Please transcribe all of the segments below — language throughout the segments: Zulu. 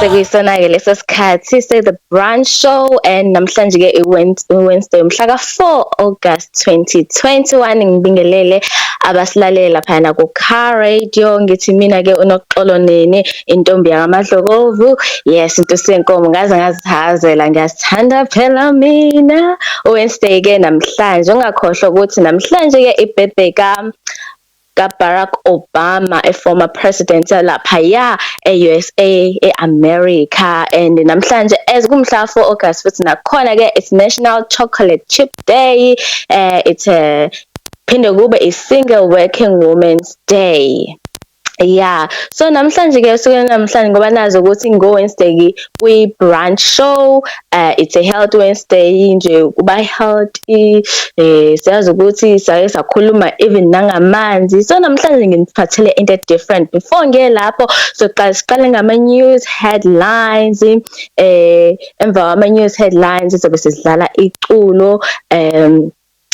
sekuyisona-ke leso sikhathi se-the brunch show and namhlanje-ke iwednesday mhla ka-four august 2021 ngibingelele abasilalele laphayana ku-car radio ngithi mina-ke unoxolo nini intombi yakamadlokovu yes into senkomo ngaze ngazihazela ngiyasithanda phela mina uwednesday-ke namhlanje ungakhohlwa ukuthi namhlanje-ke ibirthday ka ka Barack Obama a former president laphaya e USA e America and namhlanje as kumhla 4 August futhi nakhona ke it's National Chocolate Chip Day uh, it's a eh, phinde kube i Single Working Women's Day yeah so namhlanje ke usuku namhlanje ngoba nazi ukuthi ngo Wednesday kwi brunch show uh, it's a health wednesday nje kuba healthy eh siyazi ukuthi sake sakhuluma even nangamanzi so namhlanje nginiphathele into different before ngiye lapho soqala siqale ngama news headlines eh emva kwama news headlines sobe sidlala iculo um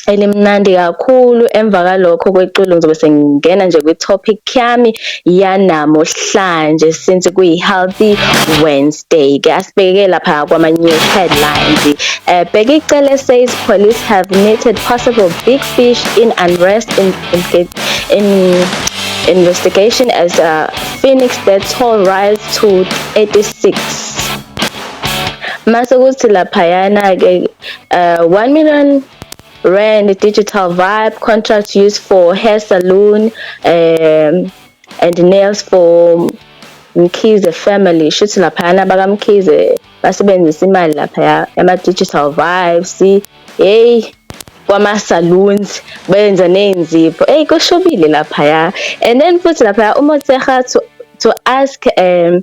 elimnandi kakhulu emva kalokho kweculo ngizobe sengingena nje kwi-topic yami yanamuhlanje since kuyi-healthy wednesday ke asibheke lapha kwama-news headlines uh, bheke icele says police have knitted possible big fish in unrest in, in, in investigation as uh, phoenix death toll rise to 86 mase kuthi laphayana-ke Uh, 1 million rand digital vibe contract used for hair salon um, and nails for Mkhize family shuthi laphayana bakamkhize basebenzisa imali laphaya ama-digital vibes hey kwama-saloons benza ney'nzipho eyi kushubile laphaya and then futhi laphaya umoteha to, to ask um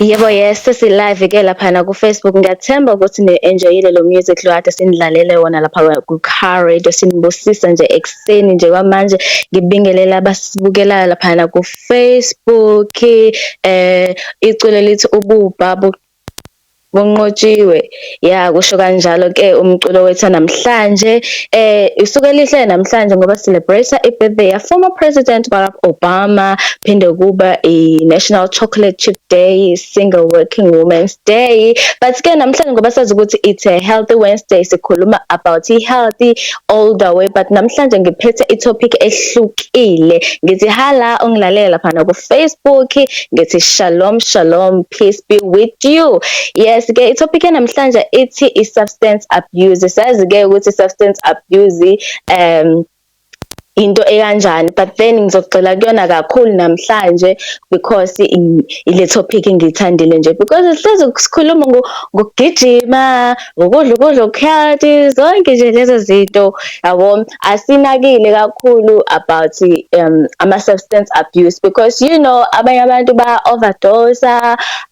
Yebo yes sesilive ke laphana ku Facebook ngiyathemba ukuthi ni enjoyile lo music lo kade sinidlalele wona lapha ku Car Radio sinibusisa nje ekseni nje kwamanje ngibingelela abasibukelayo laphana ku Facebook iculo elithi ububha bunqotshiwe ya kusho kanjalo ke umculo wethu namhlanje eh isuke elihle namhlanje ngoba celebrate ibirthday ya former president Barack Obama phinde kuba i National Chocolate Chip Day single working women's day but ke namhlanje ngoba sazi ukuthi it's a healthy wednesday sikhuluma about i healthy all the way but namhlanje ngiphethe i topic ehlukile ngithi hala ungilalela lapha na ku Facebook ngithi shalom shalom peace be with you yes ke i topic namhlanje ithi i substance abuse sazi ke ukuthi substance abuse um into ekanjani but then ngizogxila kuyona kakhulu namhlanje because ile topic ngiyithandile nje because sihlezi sikhuluma ngokugijima ngokudla ukudla okuhealthy zonke nje lezo zinto yabo asinakile kakhulu about um ama-substance abuse because you know abanye abantu ba-overdose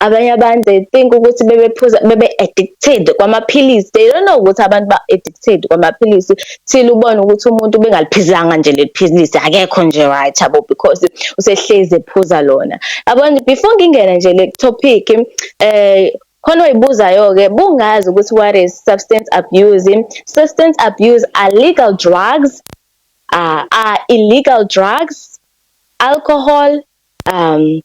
abanye abantu they think ukuthi bebephuza bebe-addicted kwamaphilisi they don't know ukuthi abantu ba-addicted kwamaphilisi till ubone ukuthi umuntu ubengaliphizanga nje leliphilisi akekho nje right yabo because usehlezi ephuza lona yabona before ngingena nje le topic eh khona oyibuzayo-ke bungazi ukuthi what is substance abuse substance abuse are legal drugs uh, are illegal drugs alcohol um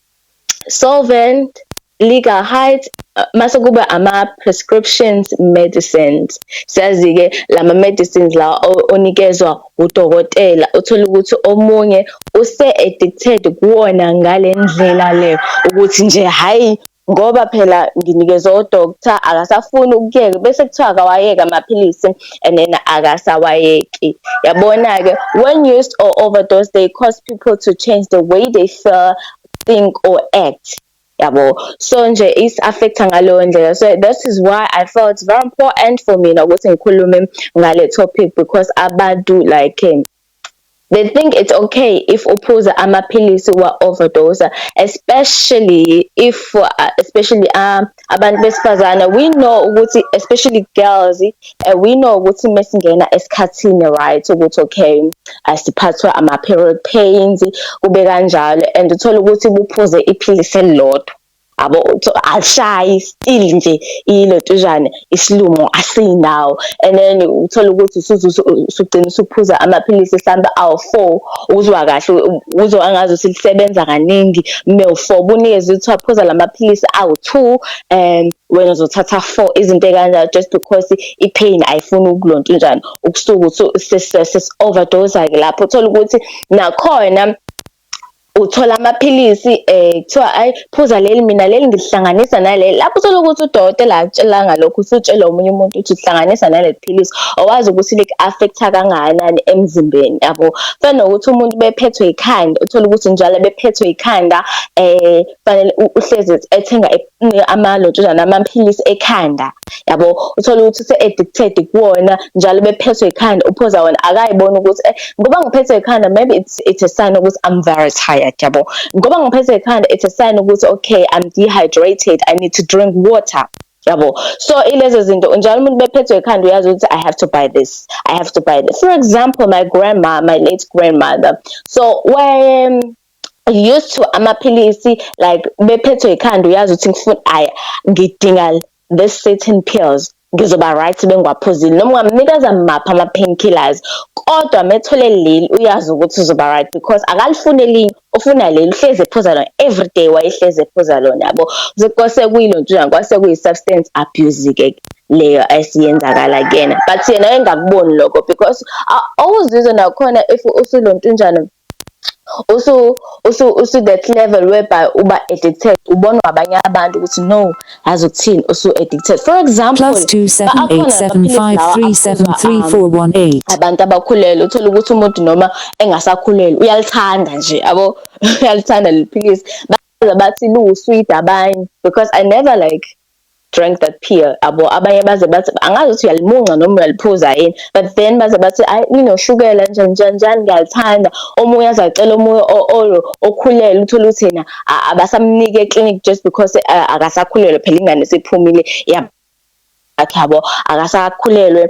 solvent liga height uh, mase kuba ama prescriptions medicines siyazi ke lama medicines la onikezwa udokotela uthola ukuthi omunye use addicted kuwona ngalendlela le ukuthi nje hayi ngoba phela nginikezwe udokotha akasafuni ukuyeka bese kuthiwa akawayeka amaphilisi and then akasawayeki yabona-ke when used or overdose they cause people to change the way they feel think or act yabo so nje is affecta ngaleyo ndlela so that is why i felt very important for mina ukuthi ngikhulume ngale topic because abantu like They think it's okay if uphuza amaphilisi wa overdose especially if uh, especially uh, abantu besifazana we know ukuthi especially girls uh, we know ukuthi mesingena esikhathini right ukuthi okay asiphathwa ama period pains kube kanjalo and uthola ukuthi buphuze iphilisi elilodwa abo ashayi still nje ilotuzane isilumo asinawo and then uthola ukuthi usugcina usuphuza amaphilisi mhlawumbe awu-four uzwa kahle uzwa angazi ukuthi lisebenza kaningi kume u-four bunikeze ukuthi waphuza la maphilisi awu-two um wena uzothatha four izinto ey'kanjalo just because i-pain ayifuni ukulonta unjani ukusuke uthi sesi-overdose-ke lapho uthole ukuthi nakhona uthola amaphilisi um kuthiwa ayi phuza leli mina leli ngilihlanganisa naleli lapho uthole ukuthi udokotela akutshela ngalokho usutshelwa omunye umuntu ukuthi uhlanganisa naleli philisi owazi ukuthi liku-affect-a kangakanani emzimbeni yabo fana nokuthi umuntu bephethwe yikhanda uthole ukuthi njalo bephethwe yikhanda um fanele uhlezi ethenga amalotshozana amaphilisi ekhanda yabo uthole ukuthi use-addicted kuwona njalo bephethwe ikhanda uphoza wona akayibona ukuthi eh, ngoba ngiphethwe ikhanda maybe it's, it's a sign ukuthi i'm very tired yabo ngoba ngiphethwe ikhanda it's a sign ukuthi okay i'm dehydrated i need to drink water yabo so ilezo zinto njalo umuntu bephethwe ikhanda uyazi ukuthi i have to buy this i have to buy this for example my grandma my late grandmother so when used to amaphilisi like bephethwe ikhanda uyazi ukuthi ngifuna aya ngidinga this certain pills ngizoba right bengiwaphuzile noma ungamnikeza maphi ama painkillers kodwa methole leli uyazi ukuthi uzoba right because akalifuni elinye ufuna leli uhlezi ephuza lona everyday wayehlezi ephuza lona yabo kwase kuyilo ntwana kwase kuyi substance abuse ke leyo esiyenzakala kuyena but yena engakuboni lokho because awuzizwe nakhona if usulontunjana usu usu usu that level whereby uba addicted ubonwa abanye abantu ukuthi no yazi ukuthini usu addicted for example plus 2787537341 abantu abakhulelwe uthola ukuthi umuntu noma engasakhulelwe uyalithanda nje abo uyalithanda leliphilisi baza bathi lu sweet abanye because i never like drank that pill abo abanye baze bathi angazi ukuthi uyalimunca noma uyaliphuza yini but then baze bathi ayi nginoshukela nje nje nje ngiyalithanda omunye azacela omunye oyo okhulele uthola ukuthi yena abasamnike eclinic just because eh, akasakhulelwe phela ingane sephumile yakhe yabo akasakhulelwe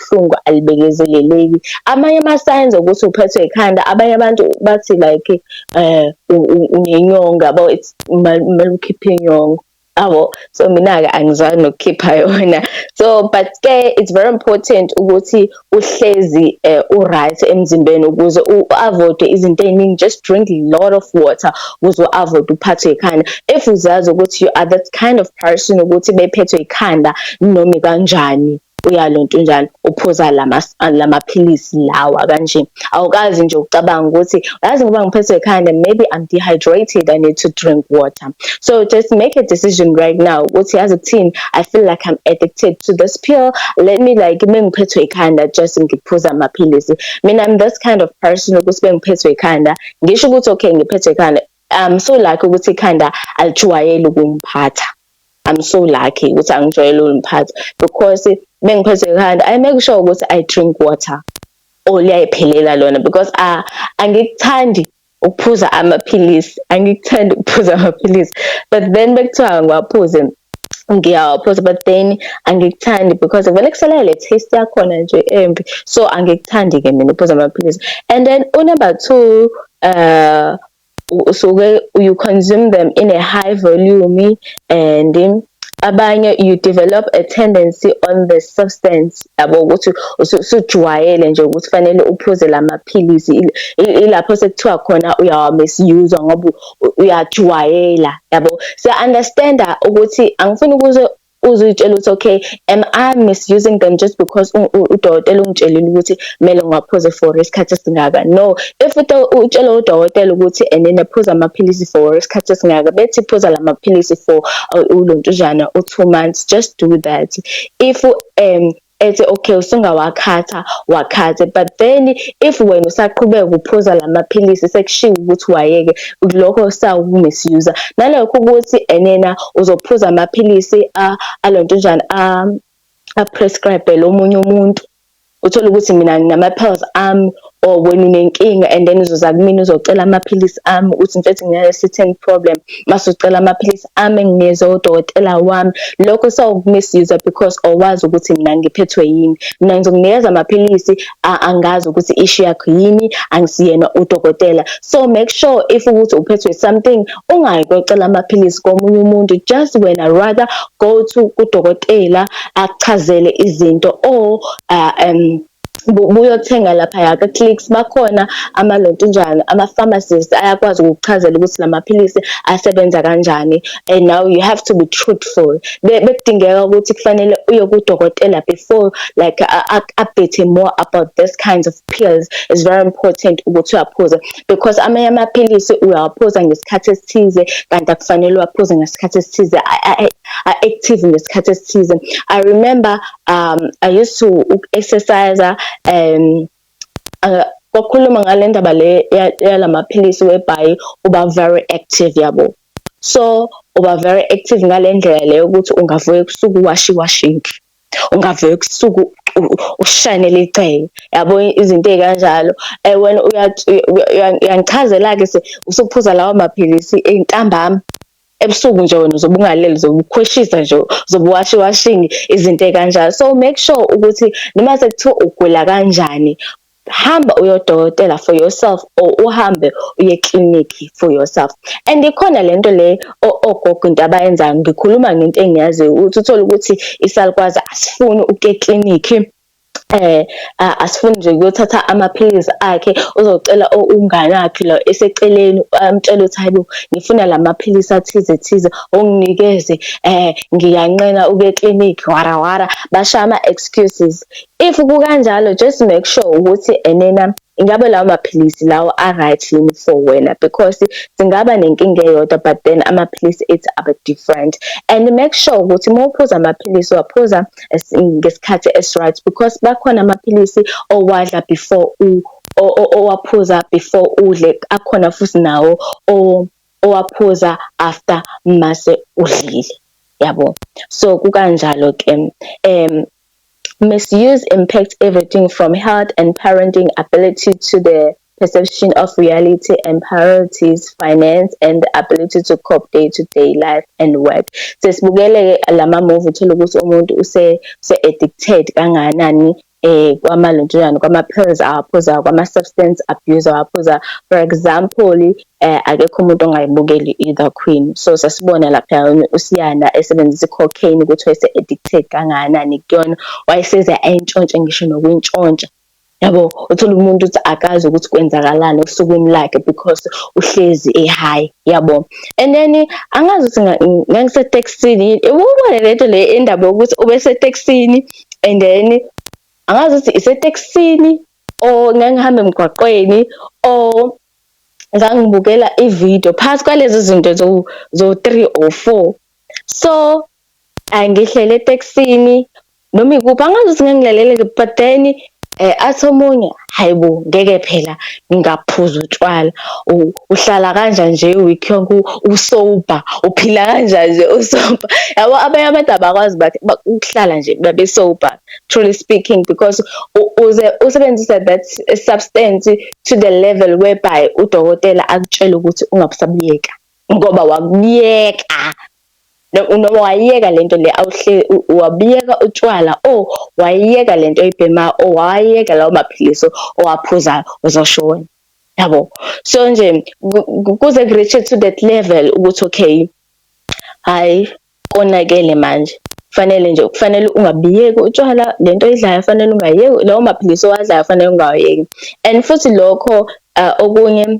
ubuhlungu alibekezeleleki amanye ama signs ukuthi uphethwe ikhanda abanye abantu bathi like eh unenyonga bo it's malukhipha inyongo abo so mina ke angizwani nokukhipha yona so but ke it's very important ukuthi uhlezi uh, u right emzimbeni ukuze u avoid izinto eziningi just drink a lot of water ukuze u avoid uphathwe ikhanda if uzazi ukuthi you are that kind of person ukuthi bephethwe ikhanda noma kanjani uyalonto unjalo uphuza lama lamaphilisi lawa kanje awukazi nje ucabanga ukuthi yazi ngoba ngiphethwe ikhanda maybe i'm dehydrated i need to drink water so just make a decision right now ukuthi yazi kuthini i feel like i'm addicted to this pill let me like mengiphethwe ikhanda just ngiphuza amaphilisi mina i'm this kind of person ukuthi bengiphethwe ikhanda ngisho ukuthi okay ngiphethwe ikhanda I'm so lucky ukuthi ikhanda alijwayele ukungiphatha. I'm so lucky ukuthi angijwayele ukuliphatha because bengiphethe ikhanda I make sure ukuthi I drink water or oh, liyayiphelela lona because uh, angikuthandi ukuphuza amaphilisi angikuthandi ukuphuza amaphilisi but then bekuthiwa ngiwaphuze ngiyawaphuza but then angikuthandi because vele kusela le taste yakhona nje embi so angikuthandi-ke mina ukuphuza amaphilisi and then unumber two uh usuke you consume them in a high volume and abanye you develop a tendency on the substance yabo ukuthi usujwayele nje ukuthi fanele uphuze lamaphilisi ilapho sekuthiwa khona uyawa misuse ngoba uyajwayela yabo so understand ukuthi angifuni ukuze uzitshela ukuthi okay am i misusing them just because udokotela ungitshelile ukuthi kumele ngiwaphuze for isikhathi esingaka no if utshela udokotela ukuthi and then aphuza amaphilisi for isikhathi esingaka bethi phuza lamaphilisi for uh, ulontujana u2 months just do that if um ethi okay usungawakhatha wakhathe but then if wena usaqhubeka ukuphuza lamaphilisi sekushiwo ukuthi wayeke lokho sawukumisuser nalokho ukuthi enena uzophuza amaphilisi alontonjana a a prescribe lo munye umuntu uthola ukuthi mina nginama pills ami or wena unenkinga and then uzoza kumina uzocela amaphilisi ami ukuthi mfethu ngine-certain problem mase ucela amaphilisi ami enginikezwe udokotela wami lokho sawukumisiza because awazi ukuthi mina ngiphethwe yini mina ngizokunikeza amaphilisi angazi ukuthi ishu yakho yini angisiyena udokotela so make sure if ukuthi uphethwe something ungayi kocela amaphilisi komunye umuntu just wena rather go to kudokotela akuchazele izinto or uh, um buyothenga laphaya ka-clicks bakhona amalontunjana ama-pharmacist ayakwazi ukukuchazela ukuthi la maphilisi asebenza kanjani and now you have to be truthful bekudingeka ukuthi kufanele uye kudokotela before like update more about this kinds of pills is very important ukuthi uyaphuze because amanye amaphilisi uyawaphuza ngesikhathi esithize kanti akufanele uwaphuze ngesikhathi esithize a-active ngesikhathi esithize i remember um i used to exercise um uh, kwakhuluma ngale ndaba le yalamaphilisi webhayi uba very active yabo so uba very active ngale ndlela leyo ukuthi ungavuka ebusuku washi washinki ungavuka ebusuku ushanele icele yabo izinto ezikanjalo eh wena uyangichazela ke se usuphuza lawa maphilisi entambama ebusuku nje wena uzobe ungalele uzobe ukhweshisa nje uzobe washi washing izinto ekanjalo so make sure ukuthi noma sekuthiwa ugula kanjani hamba uyodokotela for yourself or uhambe uye clinic for yourself and ikhona lento le ogogo into abayenzayo ngikhuluma ngento engiyaziyo ukuthi uthole ukuthi isalukwazi asifuni ukuye clinic eh asifuni nje ukuyothatha amaphilisi akhe uzocela umngane wakhe lo eseceleni amtshela ukuthi hayibo ngifuna lamaphilisi athize thize onginikeze eh ngiyanqena uke clinic wara wara basha ama excuses if kukanjalo just make sure ukuthi enena ingabe lawo maphilisi lawo a-right yini for wena because singaba nenkinga eyodwa but then amaphilisi it's aba different and make sure ukuthi uma uphuza amaphilisi waphuza ngesikhathi esi-right because bakhona amaphilisi owadla before u owaphuza before udle akhona futhi nawo owaphuza after mase udlile yabo so kukanjalo ke um Misuse impacts everything from health and parenting ability to the perception of reality and priorities, finance and the ability to cope day to day life and work. Sesibukele ke lama movie uthola ukuthi umuntu use se addicted kanganani eh kwamalunjana kwama pills awaphuza kwama substance abuse awaphuza for example eh akekho umuntu ongayibukeli either queen so sasibona lapha usiyanda esebenzisa cocaine ukuthi wayese addicted kangakanani kuyona wayeseze ayintshontshe ngisho nokuntshontsha yabo uthola umuntu ukuthi akazi ukuthi kwenzakalani osukwini lakhe because uhlezi ehayi yabo and then angazi ukuthi ngangisetaxini ubone lento le indaba yokuthi ubesetaxini and then angazi ukuthi isetaxini or ngangihamba emgwaqweni or ngangibukela ividiyo phakathi kwalezi zinto zo-three or four so angihlele etekisini noma ikuphi angazi ukuthi ngangilaleleke but then eh athi omunye hayibo ngeke phela ngingaphuza utshwala uhlala kanja nje week yonke usoba uphila kanja nje usoba yabo abanye abantu abakwazi bathi ukuhlala nje babe soba truly speaking because uze usebenzisa that substance to the level whereby udokotela akutshele ukuthi ungabusabuyeka ngoba wakuyeka noma wayeka lento le awuhle wabiyeka utshwala o oh, wayeka lento oyibhema o oh, wayeka lawo maphilisi owaphuzayo uzoshona yabo so nje kuze ku-reach to that level ukuthi okay hayi konakele manje fanele nje kufanele ungabiyeki utshwala lento oyidlayo fanele ungayeki lawo maphilisi owadlayo fanele ungawayeki and futhi lokho uh, okunye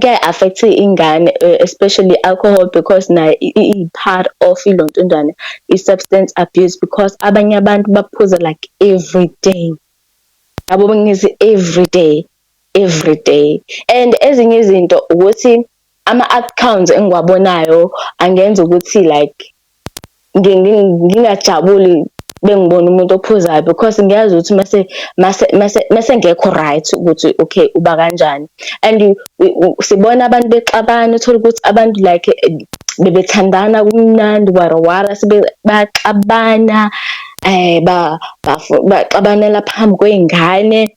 kuyayi-affect ingane eh, especially alcohol because nayo iyi-part of ilontundwane i-substance abuse because abanye abantu baphuza like every day yabo bengithi every day every day and ezinye izinto ukuthi ama-outcomes engiwabonayo angenza ukuthi like ngingajabuli bengibona umuntu ophuzayo because ngiyazi ukuthi mase mase mase mase ngekho right ukuthi okay uba kanjani and sibona abantu bexabana uthola ukuthi abantu like bebethandana kumnandi warawara sibe baxabana eh ba baxabanela phambi kweingane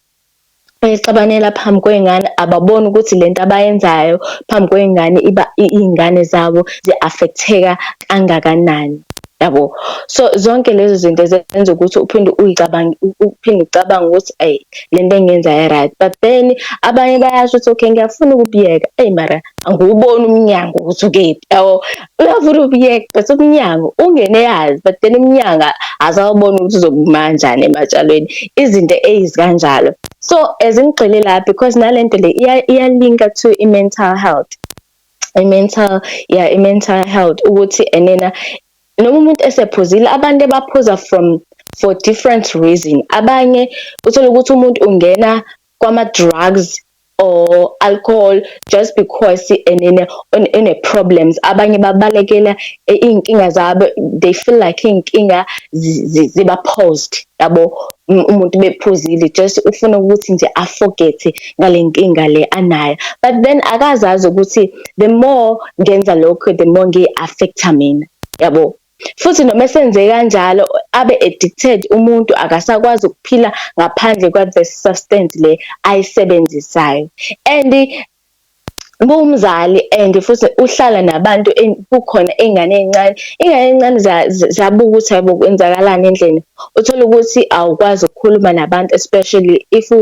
bexabanela phambi kwey'ngane ababoni ukuthi le nto abayenzayo phambi kwey'ngane iba iy'ngane zabo zi-affect-eka kangakanani yabo so zonke lezo zinto zenza ukuthi uphinde uyicabanga uphinde ucabanga ukuthi ayi le nto engiyenza right but then abanye bayasho ukuthi okay ngiyafuna ukubiyeka eyi mara angiwuboni umnyango ukuthi ukephi yabo Uyavula ubuyeka but umnyango ungene yazi but then umnyanga azawubona ukuthi uzokumanjani ematshalweni izinto eyizikanjalo so as ngigxile la because nalento le iyalinka to i-mental health i-mental yeah i-mental health ukuthi enena noma umuntu esephuzile abantu abaphuza from for different reason abanye uthola ukuthi umuntu ungena kwama drugs or alcohol just because and in a, in, in a problems abanye babalekela eh, iy'nkinga zabo they feel like iy'nkinga ziba paused yabo umuntu bephuzile just ufuna ukuthi nje aforgethe ngale nkinga le anayo but then akazazi ukuthi the more ngenza lokho the more ngiyi-affecta mina yabo Futhi noma esenze kanjalo abe addicted umuntu akasakwazi ukuphila ngaphandle kwa the substance le ayisebenzisayo and kuwumzali and futhi uhlala nabantu kukhona ingane encane ingane encane zabuka ukuthi hayibo kwenzakalani endlini Uthole ukuthi awukwazi ukukhuluma nabantu especially if u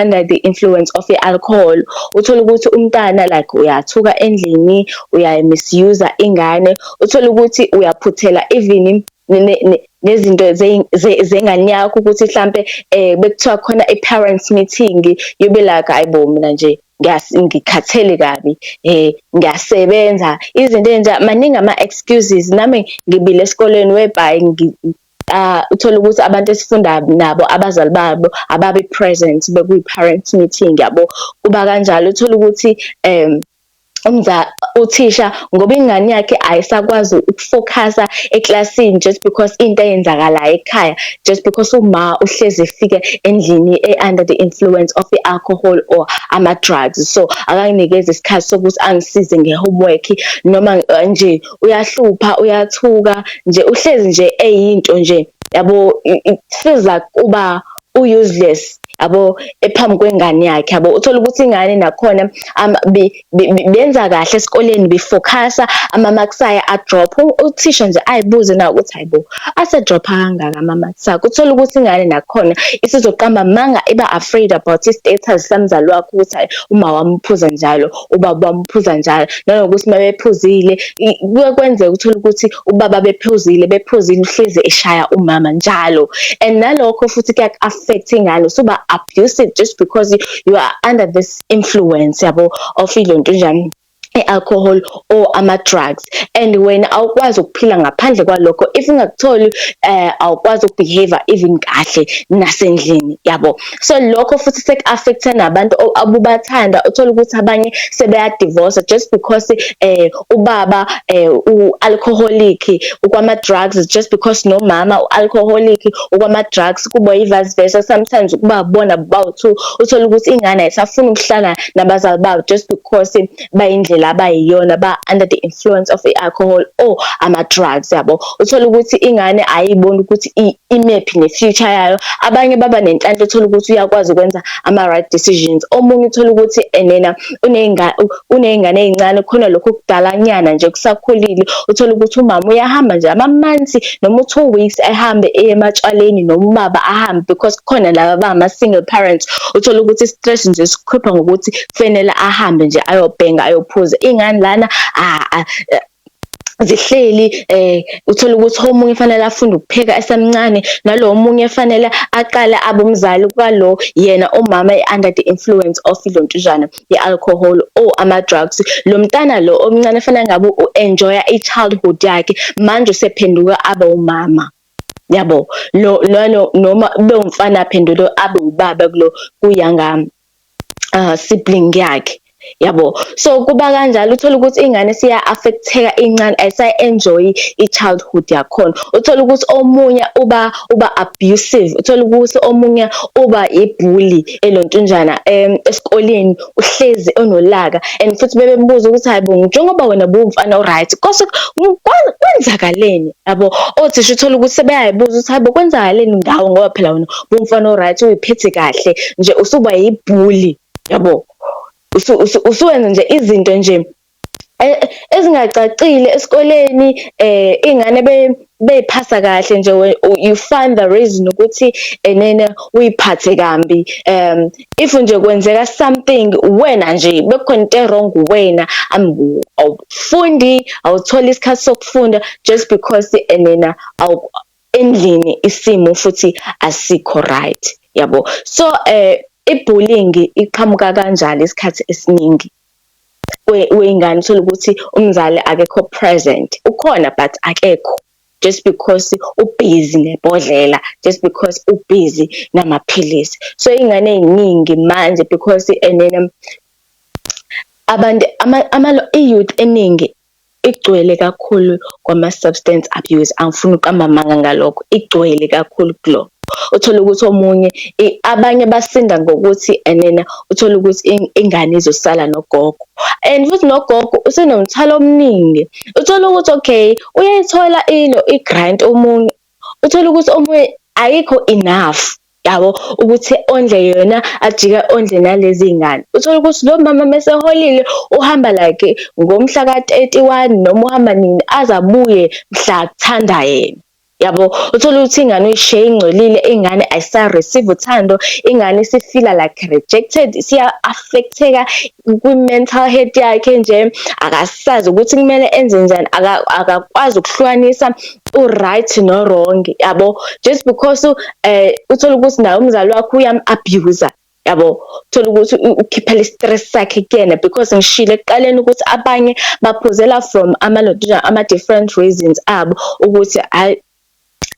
under the influence of i alcohol. Uthole ukuthi umntana like uyathuka endlini, uya misuse ingane. Uthole ukuthi uyaphuthela even nezinto zengane yakho ukuthi hlampe eh bekuthiwa khona i-parents meeting yobe like hayibo mina nje ngikhathele kabi eh ngiyasebenza izinto enja maningi ama excuses nami ngibile esikoleni webhayi uh, uthole ukuthi abantu esifunda nabo abazali babo ababe present bekuyi parent meeting yabo kuba kanjalo uthole ukuthi um umza uthisha ngoba ingane yakhe ayisakwazi ukufocusa eklasini just because into eyenzakalayo ekhaya just because uma uhlezi efike endlini e-under the influence of i-alcohol or ama-drugs so akanginikeza isikhathi sokuthi angisize nge-homework noma eh, nje uyahlupha uyathuka nje uhlezi nje eyinto nje yabo it feels like uba u-useless yabo ephambi kwengane yakhe yabo uthola ukuthi ingane nakhona um, be benza kahle esikoleni befocusa amamaksaya adropha uthisha nje ayibuze na ukuthi hayibo asedropha kangaka amamaksaya kuthola ukuthi ingane nakhona isizoqamba manga iba afraid about i-status samzali wakho ukuthi hayi uma wamuphuza njalo ubaba wamuphuza njalo nanokuthi uma bephuzile kuye kwenzeka uthole ukuthi ubaba bephuzile bephuzile uhlezi eshaya umama njalo and nalokho futhi kuyak-affect ingane suba abusive just because you are under this influence yabo of ilonto njani i-alcohol or ama-drugs and wena awukwazi ukuphila ngaphandle kwalokho if ungakutholi um awukwazi ukubehave even kahle nasendlini yabo so lokho futhi seku-affecta nabantu abubathanda uthole ukuthi abanye sebeyadivosa just because um ubaba eh u alcoholic ukwama drugs just because no mama u alcoholic ukwama drugs kubo i vice versa sometimes ukuba bona bawu two uthola ukuthi ingane ayisafuni ukuhlala nabazali bawo just because bayindlela abayiyona ba under the influence of i alcohol or ama drugs yabo uthola ukuthi ingane ayiboni ukuthi imephi ne future yayo abanye baba nenhlanhla uthola ukuthi uyakwazi ukwenza ama right decisions omunye uthola ukuthi enena uney'ngane uney'ngane ey'ncane khona lokhu kudalanyana nje kusakhulile uthole ukuthi umama uyahamba nje amamansi noma u-two weeks ehambe eye ematshwaleni noma ubaba ahambe because kukhona laba abangama-single parents uthole ukuthi i-stress nje sikhipha ngokuthi kufanele ahambe nje ayobhenga ayophuza iy'ngane lana zihleli eh uthola ukuthi omunye fanele afunde ukupheka esemncane nalo omunye fanele aqale abe umzali kwalo yena umama under the influence of ilontujana yealcohol or ama drugs lo mntana lo omncane fanele ngabe uenjoya ichildhood yakhe manje usephenduka abe umama yabo lo lona noma bewumfana aphendule abe ubaba kulo kuyangami uh, sibling yakhe yabo so kuba kanjalo uthola ukuthi ingane siya affecteka incane ayisa enjoy i childhood yakhona uthola ukuthi omunye uba uba abusive uthola ukuthi omunye uba ibully elontunjana em esikoleni uhlezi onolaka and futhi bebembuza ukuthi hayibo njengoba wena bumfana oright kose kwenzakaleni yabo othisha uthola ukuthi sebeyayibuza ukuthi hayibo kwenzakaleni ngawo ngoba phela wena umfana oright uyiphethe kahle nje usuba yibhuli yabo usuwenza nje izinto nje e, ezingacacile esikoleni eh ingane be beyiphasa kahle nje you find the reason ukuthi enene uyiphathe kambi um if nje kwenzeka something wena nje bekukhona into wrong wena awufundi awuthola isikhathi sokufunda just because enena endlini isimo futhi asikho right yabo so eh ibullying iqhamuka kanjalo isikhathi esiningi weyingane uthola ukuthi umzali akekho present ukhona but akekho just because ubhizi nebhodlela just because ubhizi namaphilisi so ingane eziningi manje because enene abantu ama ama youth eningi Igcwele kakhulu kwama substance abuse angifuni ukuqamba amanga ngalokho igcwele kakhulu kulokho. Uthole ukuthi omunye abanye basinda ngokuthi enena uthole ukuthi ingane izosala nogogo and futhi nogogo usenomthwalo omningi. Uthole ukuthi okay uyayithola ilo i-grant omunye uthole ukuthi omunye ayikho enough yabo ukuthi ondle yona ajike ondle nalezi ngane uthole ukuthi lo mama meseholile uhamba like ngomhla ka-31 noma uhamba nini azabuye mhla kuthanda yena yabo uthole ukuthi ingane uyishiye ingcolile ingane ayisa-receive uthando ingane isifila like rejected siya-affecteka kwi-mental health yakhe nje akasazi ukuthi kumele enze njani akakwazi ukuhlukanisa uright no-wrong yabo just because um eh, uthole ukuthi naye umzali wakho uyam-abuser yabo thola ukuthi ukhiphela i-stress sakhe kuyena because ngishile ekuqaleni ukuthi abanye baphuzela from ama-location ama-different reasons abo ukuthi hayi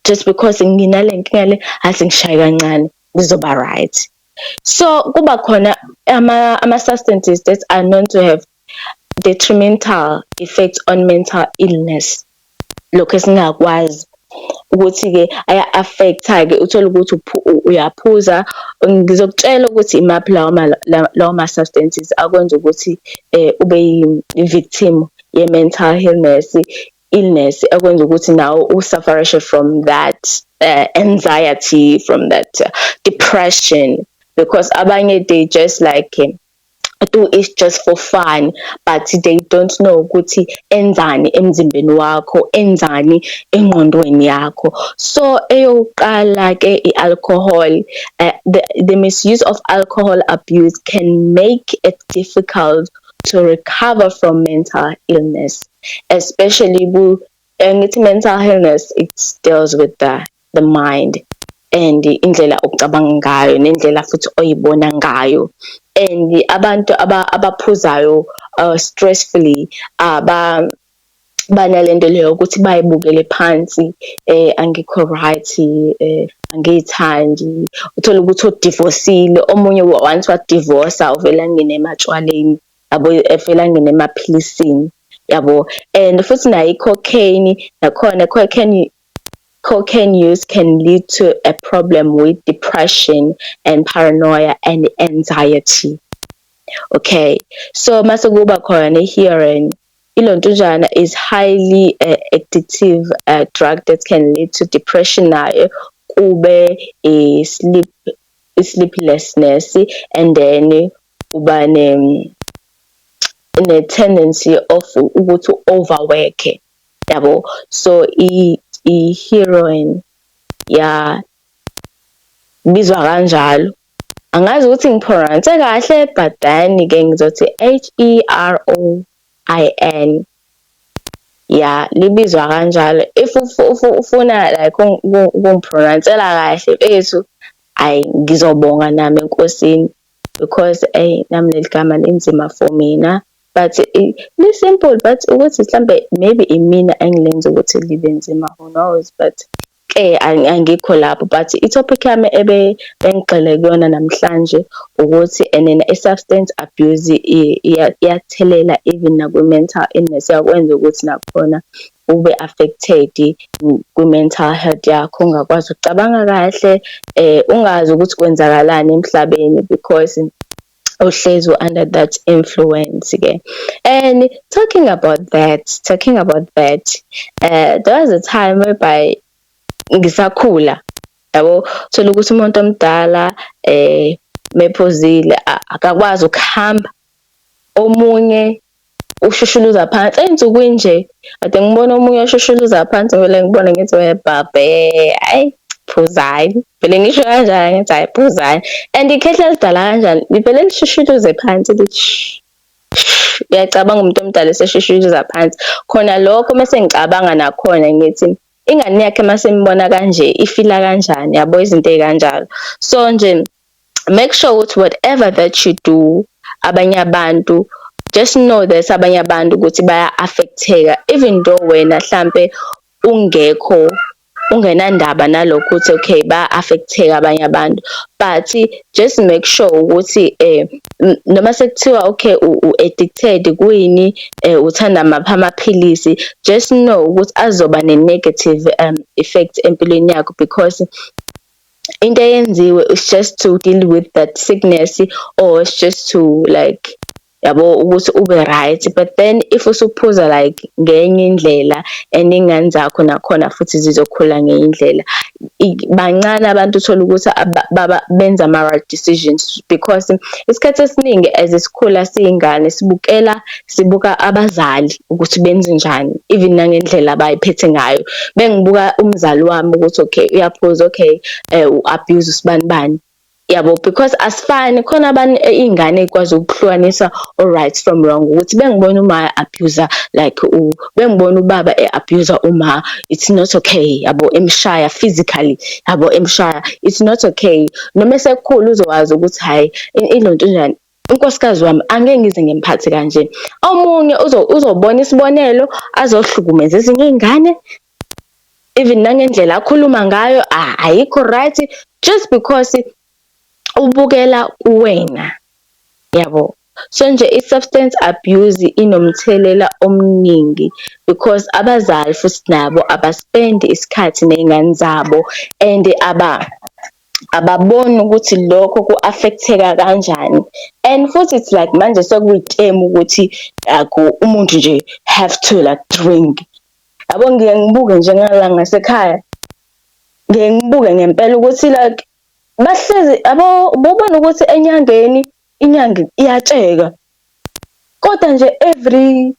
just because nginale nkinga le athi ngishaye kancane ngizoba right so kuba khona ama-substances that are known to have detrimental effect on mental illness lokho esingakwazi ukuthi-ke aya-affect-ke uthole ukuthi uyaphuza ngizokutshela ukuthi imaphi lawo lawo ma-substances akwenza ukuthi um ube yi-victim ye-mental illness illness ekwenza ukuthi nawe usufferishe from that uh, anxiety from that uh, depression because abanye they just like um, do is just for fun but they don't know ukuthi enzani emzimbeni wakho enzani engqondweni yakho so eyokuqala ke ialcohol uh, the, the misuse of alcohol abuse can make it difficult to recover from mental illness especially ku Eh, ngithi mental illness it deals with the the mind and indlela ocabanga ngayo nendlela futhi oyibona ngayo and abantu abaphuzayo uh, stressfully aba banalento leyo ukuthi bayibukele phansi eh angikho right eh angiyithandi uthola ukuthi odivorceile omunye once wadivorce uvela ngine ematshwaleni yabo efela ngene emaphilisini yabo and futhi nayo i-cocaine nakhona cocaine cocaine use can lead to a problem with depression and paranoia and anxiety okay so mase kuba khona i-hearing ilontujana is highly uh, addictive uh, drug that can lead to depression nayo kube i-sleep i-sleeplessness and then uba ne-tendency of ukuthi u-overwork-e yabo so i-heroin ya bizwa kanjalo angazi ukuthi ngiphronanse kahle but then-ke ngizothi h e r o i n ya libizwa kanjalo if ufuna like ukungiphronansela kahle bethu ayi ngizobonga nami enkosini because eyi nami leli gama linzima for mina but li-simple but ukuthi mhlambe maybe imina engilenza ukuthi libe nzima who knows but eh angikho lapho but i-topic yami ebe engigxile kuyona namhlanje ukuthi enena i-substance abuse iyathelela even nakwi-mental illness yakwenza ukuthi nakhona ube affected kwi mental health yakho ungakwazi ukucabanga kahle eh ungazi ukuthi kwenzakalani emhlabeni because uhlezi under that influence ke and talking about that talking about that uh, there was a time whereby ngisakhula yabo thola ukuthi umuntu omdala eh mephuzile akakwazi ukuhamba omunye ushushuluza phansi ey'nsukwini nje kade ngibona omunye oshushuluza phansi ngivele ngibone ngithi webhabhe ayi phuzani vele ngisho kanjani ngithi hayi phuzani and ikhehla lidala kanjani livele lishushuluze phansi lithi uyacabanga umuntu omdala eseshushuluza phansi khona lokho mese ngicabanga nakhona ngithi ingane yakhe mase imbona kanje ifila kanjani yabo izinto ey'kanjalo so nje make sure ukuthi whatever that you do abanye abantu just know that abanye abantu ukuthi baya affecteka even though wena hlampe ungekho ungenandaba nalokho ukuthi okay ba affecteka abanye abantu but just make sure ukuthi eh noma sekuthiwa okay u addicted kuyini eh uthanda mapha amaphilisi just know ukuthi azoba ne negative um effect empilweni yakho because into eyenziwe is just to deal with that sickness or it's just to like yabo ukuthi ube right but then if usuphuza like ngenye indlela and ingane zakho nakhona futhi zizokhula ngenye indlela bancane abantu uthola ukuthi baba benza ama right decisions because isikhathi esiningi as isikhula siyingane sibukela sibuka abazali ukuthi benze njani even nangendlela abayiphethe ngayo bengibuka umzali wami ukuthi okay uyaphuza okay eh, u-abuse usibani bani yabo because asifani khona abantu eh, iy'ngane ikwazi ukuhlukanisa o-right from wrong ukuthi bengibona uma abuser like u bengibona ubaba e-abuser uma it's not okay yabo emshaya physically yabo emshaya it's not okay noma esekhulu uzowazi ukuthi hhayi ilonto njani unkosikazi wami angeke ngize ngimphathe kanje omunye uzobona isibonelo azohlukumeza ezinye iy'ngane even nangendlela akhuluma ngayo ayikho right just because ubukela kuwena yabo so nje i-substance abuse inomthelela omningi because abazali futhi nabo abaspendi isikhathi ney'ngane zabo and aba ababoni ukuthi lokho ku-affect-eka kanjani and futhi it's like manje sekuyitemu ukuthi akho umuntu nje have to like drink. Yabo ngiye ngibuke nje ngala ngasekhaya, ngiye ngibuke ngempela ukuthi like bahlezi yabo ububona ukuthi enyangeni inyanga iyatsheka kodwa nje every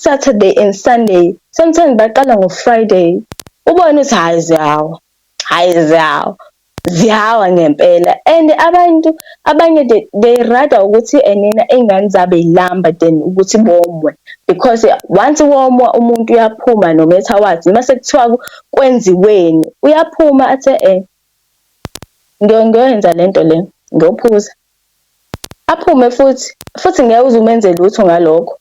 Saturday and Sunday sometimes baqala ngo-Friday ubone ukuthi hhayi ziyawa. Hayi ziyawa. Ziyawa ngempela and abantu abanye they, they rather ukuthi enena eh, iy'ngane zabo y'lamba than ukuthi bomwe because once womwa umuntu uyaphuma no matter what noma sekuthiwa kwenziweni uyaphuma athe um eh, ngiyoyenza le nto le ngiyophuza aphume futhi futhi ngeke uze umenze lutho ngalokho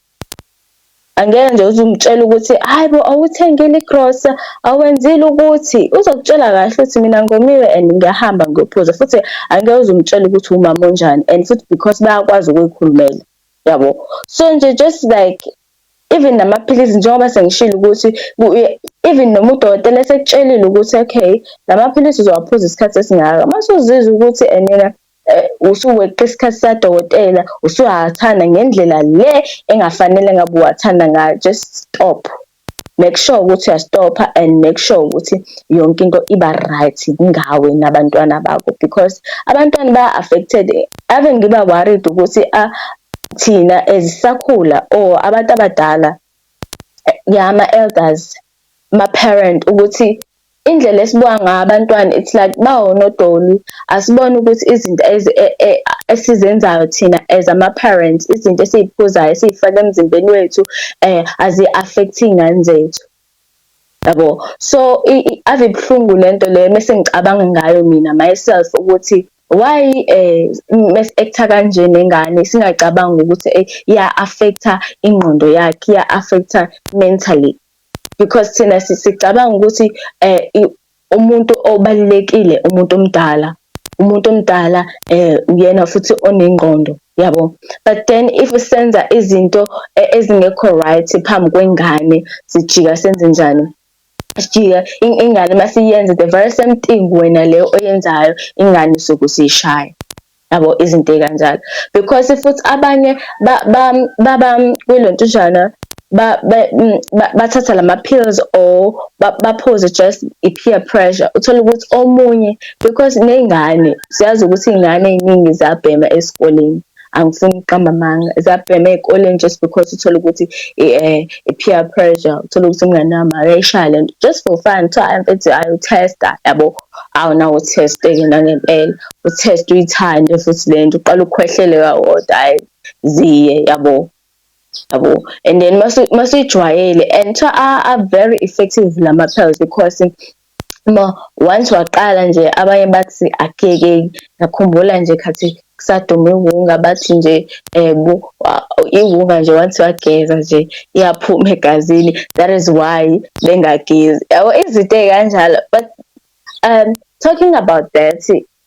Angeke nje uze umtshele ukuthi hayi bo awuthengile igrosa awenzile ukuthi uzokutshela kahle ukuthi mina ngomiwe and ngiyahamba ngiyophuza futhi angeke uze umtshele ukuthi umama onjani and futhi because bayakwazi ukuyikhulumela yabo so nje just like even namaphilisi njengoba sengishilo ukuthi even noma udokotela esekutshelile ukuthi okay lamaphilisi uzowaphuza isikhathi esingaka masuzizwa ukuthi enena eh, Eh, usuweqa isikhathi sadokotela usuyathanda ngendlela le engafanele ngabe uwathanda ngayo just stop make sure ukuthi uyastopha and make sure ukuthi yonke into iba right ngawe nabantwana bakho because abantwana ba affected ave ngiba worried ukuthi a ah, thina ezisakhula or abantu abadala eh, yama elders ma parent ukuthi Indlela esibuka ngayo abantwana it's like bawonodoli asibone ukuthi izinto e, e, esizenzayo thina as ama-parents izinto esiyiphuzayo esiyifaka emzimbeni wethu um azi-affect iy'ngane zethu yabo so ave ibuhlungu le nto leyo mese ngicabanga ngayo mina myself ukuthi why eh mes actor kanje nengane singacabanga ukuthi eh, iya affecta ingqondo yakhe iya affecta mentally because thina sicabanga ukuthi um umuntu obalulekile umuntu omdala umuntu omdala um uyena futhi onengqondo yabo but then if senza izinto e, ezingekho right phambi kwengane sijika senze njani sijika ingane masiyenza the very same thing wena leyo oyenzayo ingane sokusishaya yabo izinto ey'kanjalo because futhi abanye baba kwilo ntujana mm, bathatha lama-pills or baphuze just i-peer pressure uthole ukuthi omunye because ney'ngane siyazi ukuthi iy'ngane ey'ningi ziyabhema esikoleni angifuni ukuqamba amanga ziyabhema ey'koleni just because uthole ukuthi eh, i-peer pressure uthole ukuthi umngane wami akayishaya le nto just for fun kuthiwa mfethu ayothesta yabo awunawo test-ke nangempela utest uyithande futhi lento uqala ukukhwehlele kawodwa hayi ziye yabo yabo and then masuyijwayele and cha are very effective lama pills because ma once waqala nje abanye bathi akeke ngakhumbula nje khathi kusadume iwunga bathi nje um iwunga nje once wageza nje iyaphuma egazini that is why bengagezi yabo izinto ey'kanjalo but um talking about that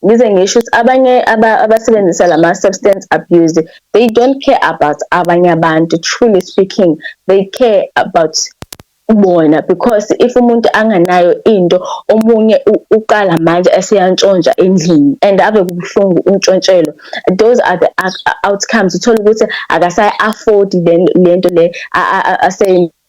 ngize ngisho ukuthi abanye abasebenzisa la ma-substance abuse they don't care about abanye abantu truly speaking they care about bona because if umuntu anganayo into omunye uqala manje esiyantshontsha endlini and ave kubuhlungu untshontshelwa those are the outcomes uthola ukuthi akasayi afford lento le asay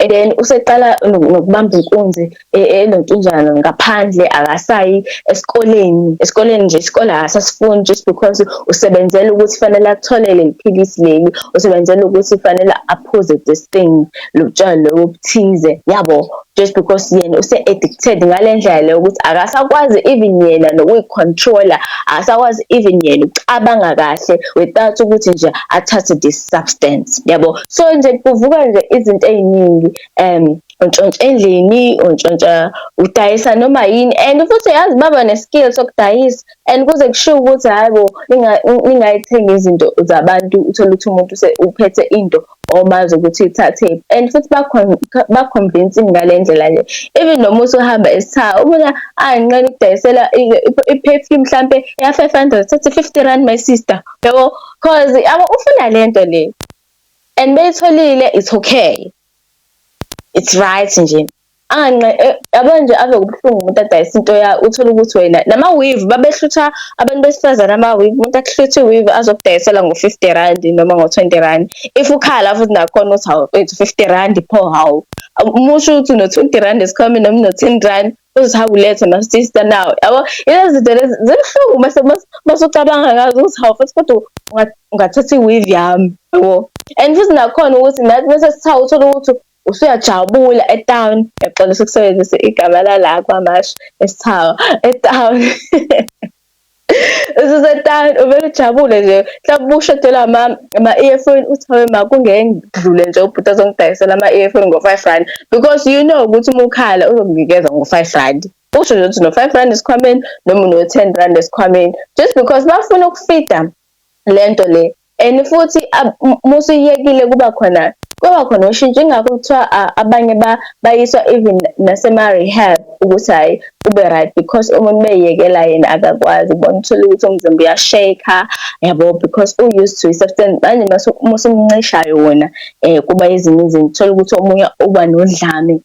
and then useqala nokubamba inkunzi e, enontunjana ngaphandle akasayi esikoleni esikoleni nje isikole akasasifuni just because usebenzela ukuthi fanele athole leli philisi leli usebenzela ukuthi fanele aphuze this thing lotshwala lobo obuthize yabo just because yena use addicted ngalendlela leyo ukuthi akasakwazi even yena nokuyicontroller akasakwazi even yena ukucabanga kahle without ukuthi nje athathe this substance yabo so nje kuvuka nje izinto eziningi um untshontsha endlini untshontsha udayisa noma yini and futhi yazi baba neskill sokudayisa and kuze kushiwo ukuthi hayibo ingayithenga izinto zabantu uthole ukuthi umuntu uphethe into or bazi ukuthi ithathephi and futhi baconvince ngale ndlela le even noma usuhamba esithaha ubona anqena ukudayisela i-perfume mhlampe ya-five hundred thathe fifty rand my sister yabo cause yabo ufuna le nto le and beyitholile it's okay it's right nje anqe eh, yabo nje ave kubuhlungu umuntu adayisa into ya uthole ukuthi wena nama weave babehlutha abantu besifazane ama weave umuntu akuhluthe weave azokudayisela ngo 50 rand noma ngo 20 rand if ukhala futhi nakhona uthi hawu 50 rand pho hawu umusho ukuthi no 20 rand is coming noma no 10 rand uthi hawu lethe ma sister now yabo lezi zinto lezi zibuhlungu mase mase ucabanga ngazo uthi hawu futhi kodwa ungathatha i weave yami yabo and futhi nakhona ukuthi nathi mase sithawu uthola ukuthi usuyajabula etown ngiyaxolisa ukusebenzisa igama lala kwamashi esithawa etown ususetown uvele ujabule nje mhlawumbe ushodelwa ama-earphone uthi hawe ma kungengidlule nje ubhuti azongidayisela ama-earphone ngo-five rand because you know ukuthi uma ukhala uzokunikeza ngo-five rand usho nje ukuthi no-five rand esikhwameni noma uno-ten rand esikhwameni just because bafuna ukufida lento le and futhi musuyiyekile kuba khona kwaba khona ushintsho ingakho kuthiwa abanye bayiswa even nasema-rehab ukuthi hhayi ube right because umuntu beyiyekela yena akakwazi ubona uthole ukuthi umzimba uyasheka yabo because u-used to i-substance manje musumncishayo wona um kuba ezinye izinto uthole ukuthi omunye uba nodlame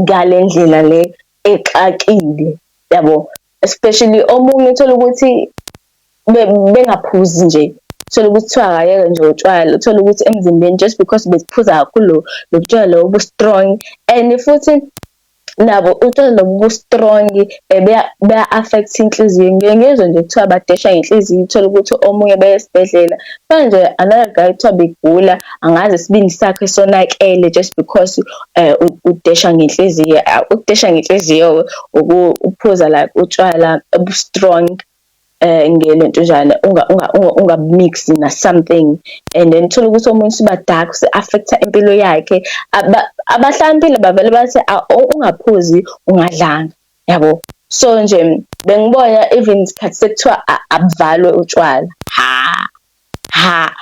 ngale ndlela le exakile yabo especially omunye uthole ukuthi bengaphuzi nje uthole ukuthi kuthiwa akayeke nje utshwala uthole ukuthi emzimbeni just because besiphuza kakhulu lo butshwala lobo bu-strong and futhi nabo utshwala lobo bu-strong eh, beya-affect inhliziyo ngike ngizwe nje kuthiwa badesha ngenhliziyo uthole ukuthi omunye beye esibhedlela manje another guy kuthiwa begula angazi isibindi sakhe sonakele just because eh, udesha ngenhliziyo ukudesha ngenhliziyo-ke ukuphuza like utshwala obu-strong eh ngene ntujana unga unga unga mix na something and then thola ukuthi omunye siba dark se affect impilo yakhe abahlambile bavele bathi ah, ungaphuzi ungadlanga yabo so nje bengibona even isikhathi sekuthiwa abuvalwe utshwala ha ha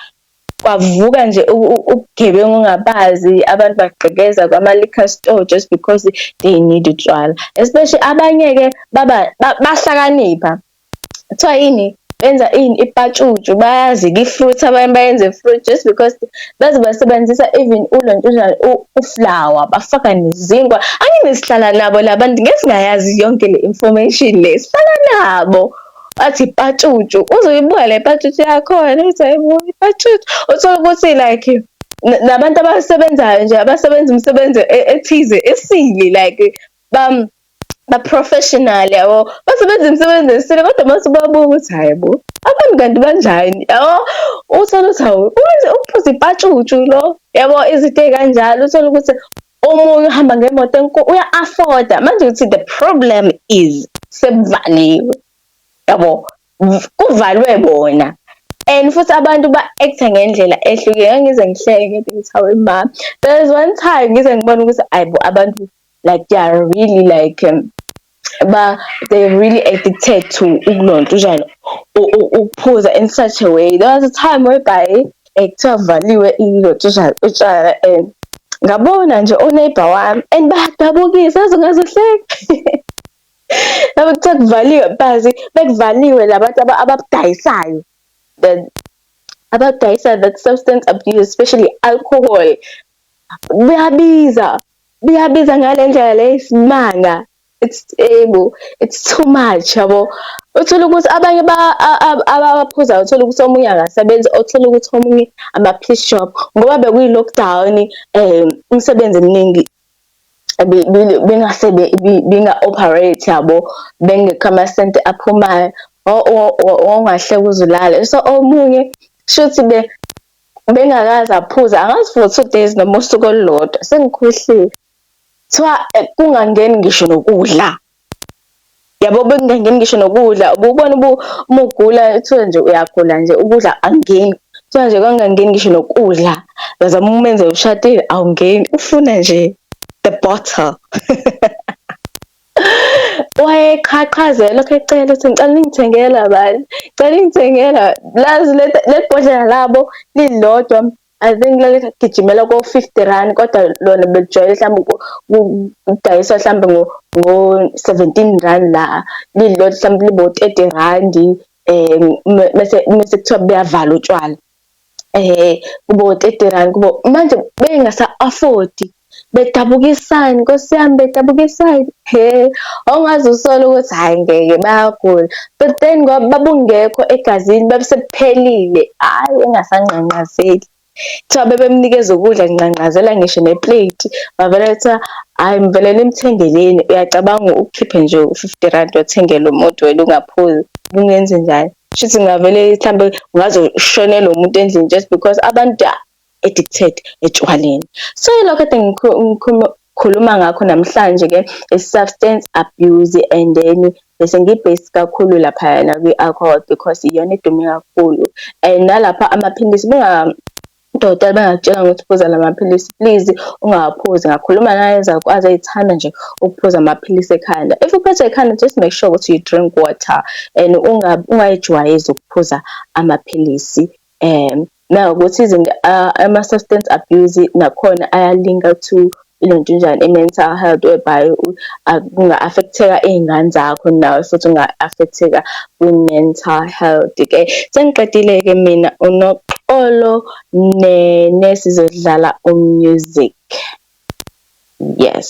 kwavuka nje ubugebengu ongabazi abantu bagqekeza kwama-liquor store just because they need utshwala especially abanye-ke baba bahlakanipha kuthiwa yini benza ini ipatshutshu bayazika i-fruit abanye bayenze fruit just because baze basebenzisa even ulontshuzana uflower bafaka nezinkwa angine sihlala nabo la bantu ngeke singayazi yonke le information le sihlala nabo bathi patshutshu uze uyibuka le patshutshu yakhona uthi hayibo ipatshutshu uthole ukuthi like nabantu abasebenzayo nje abasebenza umsebenzi e-, ethize esile like bam ba-professional yabo basebenza imisebenzi esile kodwa uma usubabuka ukuthi hhayi bo abantu kanti banjani yabo uthole ukuthi hawu uphuza ipatshutshu lo yabo izinto ey'kanjalo uthole ukuthi omunye uhamba ngemoto enkulu uya-afforda manje ukuthi the problem is sekuvaliwe yabo kuvalwe bona and futhi abantu ba-actha ngendlela ehlukile ngangize ngihleke ngithi ngithawe ma there's one time ngize ngibona ukuthi ayibo abantu like they are really like um, ba they really addicted to ukulonta utshani ukuphuza in such a way there was a time whereby ekuthiwa kuvaliwe ilonta utshani utshani and ngabona nje uneighbor wami and badabukisa azingazohleka laba kuthiwa kuvaliwe bazi bekuvaliwe labantu ababudayisayo then abadayisa that substance abuse especially alcohol buyabiza biyabiza ngale ndlela le isimanga it's able it's too much yabo uthola ukuthi abanye abaphuzayo uthola ukuthi omunye akasebenzi othola ukuthi omunye ama-piece shop ngoba bekuyi-lockdown um umsebenzi eminingi bengase benga-operate yabo bengekho amasenti aphumayo ongahleka uzulale so omunye shuthi bengakaze aphuze angazi for two days noma usuku olulodwa sengikhohliwe kuthiwa eh, kungangeni ngisho nokudla yabo bekungangeni ngisho nokudla ububona umugula kuthiwe nje uyagula nje ukudla angeni kuthiwa nje kangangeni ngisho nokudla ngazama umenze ushadile awungeni ufuna nje the bottle wayeqhaqhaze lokho ecela ukuthi ngicela ningithengela bani cela ingithengela lazi lebhodlela labo lilodwa i think laligijimela ko-fifty rand kodwa lona belijwayele mhlawumbe ukudayiswa mhlawumbe ngo-seventeen rand la lilodwa mhlawumbe libo-thirty randi um mese kuthiwa buyavala utshwala eh kubo 30 rand kubo manje bengasa afford bedabukisani nkosi yami bedabukisani he awungazi usole ukuthi hayi ngeke bayagula but then ngoba babungekho egazini babesephelile hayi engasanqanqazeli kuthiwa bebemnikeza ukudla nginqanqazela ngisho neplate bavele kuthiwa hhayi ngivele nimthengeleni uyacabanga ukhiphe nje u-fifty rand wathengela umuntu wena ungaphuzi kungenze njani Shuthi ngavele mhlambe ngaze ushonele umuntu endlini just because abantu are addicted etshwaleni. So yilokho kade ngikhuluma ngakho namhlanje ke i-substance abuse and then bese ngi-based kakhulu lapha yana kwi-alcohol because iyona edume kakhulu and nalapha amaphilisi Udokotela bengakutshela ukuthi phuza la maphilisi please ungawaphuzi. Ngakhuluma nayezalukwazi ey'thanda nje ukuphuza amaphilisi ekhanda. If uphethwe ikhanda just make sure ukuthi you drink water and ungayijwayezi ukuphuza amaphilisi. Um nawukuthi izinto ama-substance abuse nakhona ayalinka to ilento njani i-mental health whereby kunga-affecteka iy'ngane zakho nawe futhi unga-affecteka kwi-mental health ke sengiqedile-ke mina unoxolo nene sizodlala umusic yes